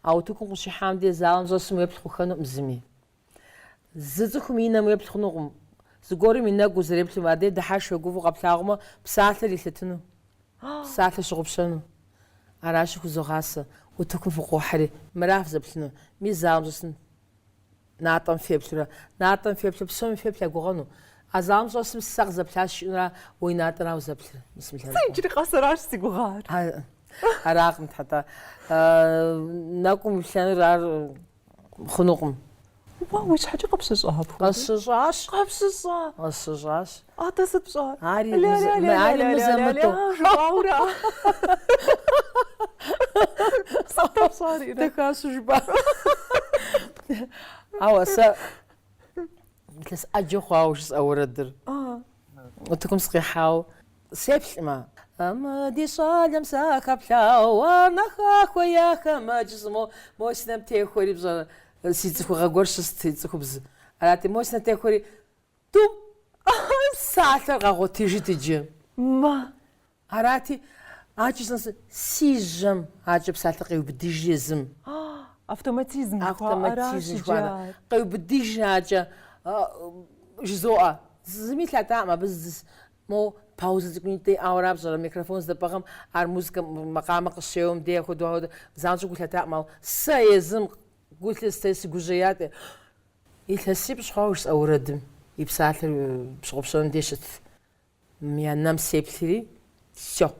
А утыкум къыщихьэм де залым щӏэсым уеплъ хъухэнукъым зыми. Зы цӏыхум и нэм уеплъ хъунукъым. Зыгуэрым и нэгу узэреплъым, адэ дыхьэшх е гуфӏэу къэплъагъумэ, псалъэр илъэтыну, псалъэр пщыгъупщэну. Аращи, хузогъасэ утыкум фыкъохьэри, мыра фызэплъыну, мы залым щӏэсым Натӏэм феплъурэ, натӏэм феплъу, псоми феплъ я гугъэну. А залым щӏэсым сэ къызэплъащ жиӏэнура, уэ и натӏэра узэплъыр? Бисмиллахи Сэ иджыри къэс аращ си гугъар. А, Аракъым, тхьэ, тӏэ. А, Нэкӏум уиплъэнур ар хъунукъым. Уэ уи щхьэкӏэ къыпщыщӏа апхуэдэу? Къысщыщӏащ. Къыпщыщӏа? Къысщыщӏащ. Атэ сыт пщӏа? Ари ари мызэ-мытӏэу. Жыбаура. Сыт пщӏари? Дахащ жыба. Ауэ сэ илъэс ӏэджэ хъуауэ жысӏэ уэрэдыр. Утыкум сыкъихьауэ сеплъмэ. Амэ ди щӏалэм сахэплъауэ, ар нэха хуея хэмэджз, мо мо си нэм техуэри пщӏэрэ си цӏыхугъэ гуэр щыст, цӏыхубз. Арати, мо си нэм техуэри Тӏум! Ӏэхьэ, псалъэр къэгъуэтыжыт иджы. Мэ! Арати, акӏи сынэсу, си жьэм! Акӏэ псалъэр къеубыдыжи езым. Автоматизм жыхуаӏэращ иджы. Автоматизм жыхуаӏэращ. Къеубыдыжи акӏэ, жызоӏэ. Зыми лъатакъым абы зыс. Мо паузэ цӏыкӏунитӏэ иӏауэра пщӏэрэ, микрофон здэпӏыгъым ар музыкэ макъамэ къыщеуэм дей апхуэдэу апхуэдэу занщӏэу гу лъатакъым, ауэ сэ езым гу лъыстэри, сыгужьеяти, Илъэсипщӏ хъуауэ жысӏэ уэрэдым и псалъэр пщыгъупщэным деж щытт. Мы и нэм сеплъри, сщэхъу.